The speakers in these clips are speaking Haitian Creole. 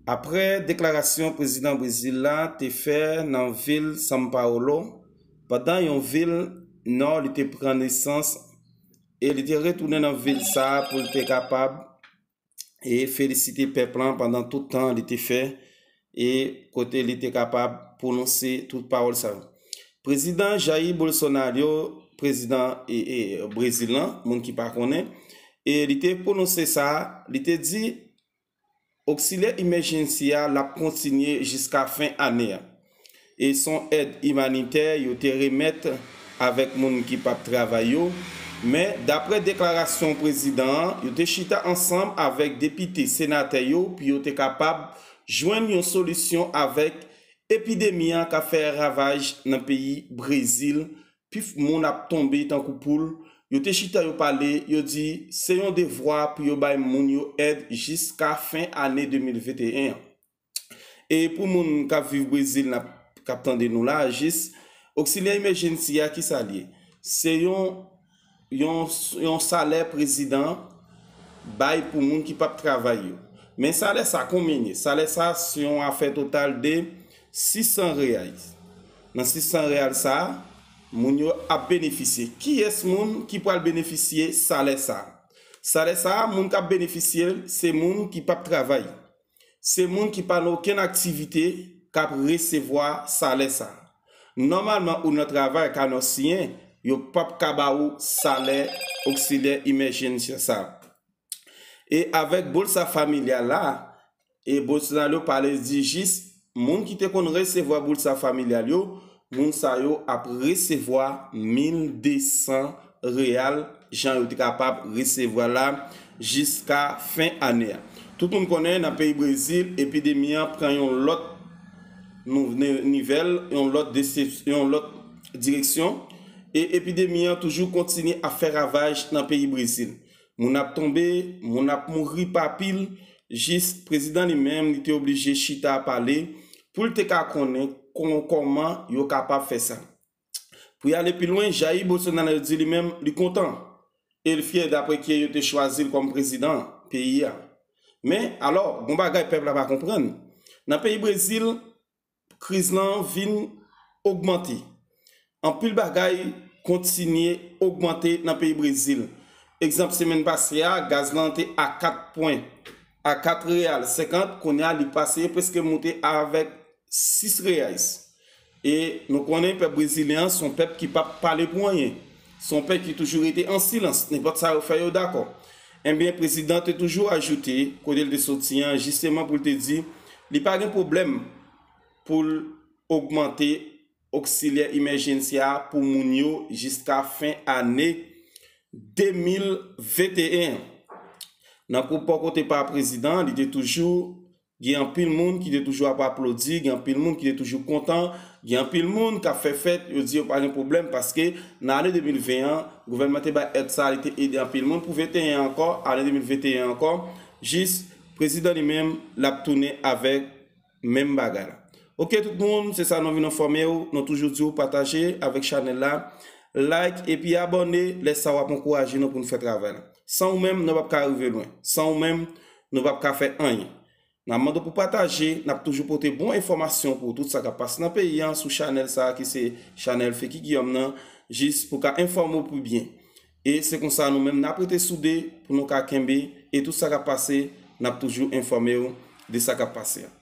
Aprè deklarasyon prezidan Brezil la te fè nan vil São Paulo pandan yon vil nò li te pran nesans e li te retounen nan vil sa a pou l te kapab e felisite pèp lan pandan tout tan li te fè e kote li te kapab pwononse tout pawòl sa yo. Prezidan Jair Bolsonaro, prezidan Brezil lan, moun ki pa konnen, e li te pwononse sa, li te di, Oksilyè Emergency a lap kontinye jiska fen ane a. E son èd imanitè yo te remèt avèk moun ki pap travay yo, men daprè deklarasyon prezidan an, yo te chita ansanm avèk depite, senatè yo pou yo te kapab jwenn yon solisyon avèk epidemi an kap fè ravaj nan peyi Brezil Pif moun ap tonbe tankou poul, yo te chita yo pale, yo di se yon devwa pou yo bay moun yo èd jiska fen ane 2021 an. E pou moun k ap viv Brezil n ap k ap tande nou la a jis, Oksilyè Emèjensi a kisa l ye? Se yon yon salè prezidan bay pou moun ki pap travay yo. Men salè sa konbyen ye? Salè sa se yon afè total de 600 reais. Nan 600 reais sa, moun yo ap benefisye. Kiyès moun ki pral benefisye salè sa? Salè sa, moun kap benefisye l, se moun ki pap travay. Se moun ki pa nan okenn aktivite k ap resevwa salè sa. Nòmalman ou nan travay ka nan siyen yo p ap ka ba ou salè oksilyè imèjensye sa. E avèk bolsa familyal la, e Bolsonaro pale di jis Moun ki te konn resevwa boulsa familyal yo, moun sa yo ap resevwa 1200 real jan yo te kapab resevwa la jiska fen ane a. Tout moun konnen nan peyi Brezil epidemi an pran yon lòt nivel, yon lòt yon lòt direksyon e epidemi an toujou kontinye ap fè ravaj nan peyi Brezil. Moun ap tonbe, moun ap mouri pa pil, jis prezidan li menm li te oblije chita pale pou l te ka konnen kòman yo kapab fè sa. Pou y ale pi lwen, Jair Bolsonaro di li menm li kontan e l fyè daprè kye yo te chwazi l kòm prezidan peyi a. Men, alò, gon bagay pèp la pa konprann, nan peyi Brezil, kriz lan vin ogmante. Anpil bagay kontinye ogmante nan peyi Brezil. Egzanp semenn pase a, gaz lan te a 4 pwen, a 4 real 50, kounye a li pase preske moute avèk 6 reais. E nou konnen pèp brezilyen an son pèp ki pap pale pou anyen. Son pèp ki toujou rete an silans, nenpòt sa yo fè yo dakò. Enben, prezidan te toujou ajoute kote l te soti an jisteman pou l te di li pa gen pwoblèm pou l ogmante oksilyè imèjensya a pou moun yo jiska fen ane 2021 an. Nan pwopo kote pa prezidan an, li te toujou Gen anpil moun ki te toujou ap aplodi, gen anpil moun ki te toujou kontan, gen anpil moun k ap fè fèt, yo di yo pa gen pwoblèm paske nan ane 2020 an, gouvènman te bay èd sa a, li te ede anpil moun pou 21 an ankò, ane 2021 an ankò, jis prezidan li menm l ap tounen avèk menm bagay la. Ok tout moun, se sa nou vin enfòme ou, nou toujou di ou pataje avèk chanèl la, like epi abòne, lè sa w ap ankouraje nou pou nou fè travay la. San ou menm, nou p ap ka rive lwen. San ou menm. Nou pap ka fè anyen. Nap mande w pou pataje, nap toujou pote bon enfòmasyon pou w tout sa kap pase nan peyi an sou chanèl sa ki se chanèl Feki Giyòm nan jis pou ka enfòme w pi byen. E se konsa nou menm nap rete soude pou nou ka kenbe e tout sa kap pase nap toujou enfòme w de sa kap pase an.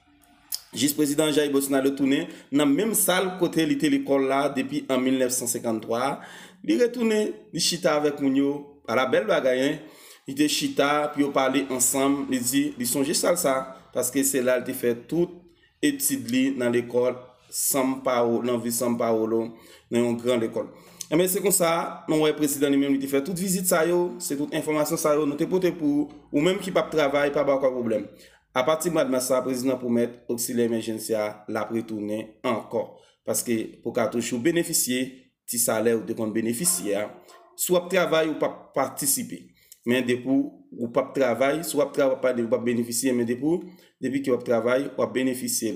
Jis prezidan Jair Bolsonaro tounen nan menm sal kote li te lekòl la depi an 1953 a, li retounen, li chita avèk moun yo, ala bèl bagay hein! Li te chita pou yo pale ansanm, li di li sonje sal sa paske se la li te fè tout etid li nan lekòl San Paolo, nan vil San Paolo, nan yon gran lekòl. Enben se konsa nou wè prezidan li menm li te fè tout vizit sa yo, se tout enfòmasyon sa yo nou te pote pou ou menm ki pap travay pa ba w pwoblèm. Apati mwad mas la prezidan pwomèt oksilyè emèjensy a l ap retounen ankò paske pou w ka toujou benefisye ti salè ou te konn benefisye a si w ap travay ou p ap patisipe men depi w p ap travay si w ap travay w ap benefisye men depi w ap travay w ap benefisye l.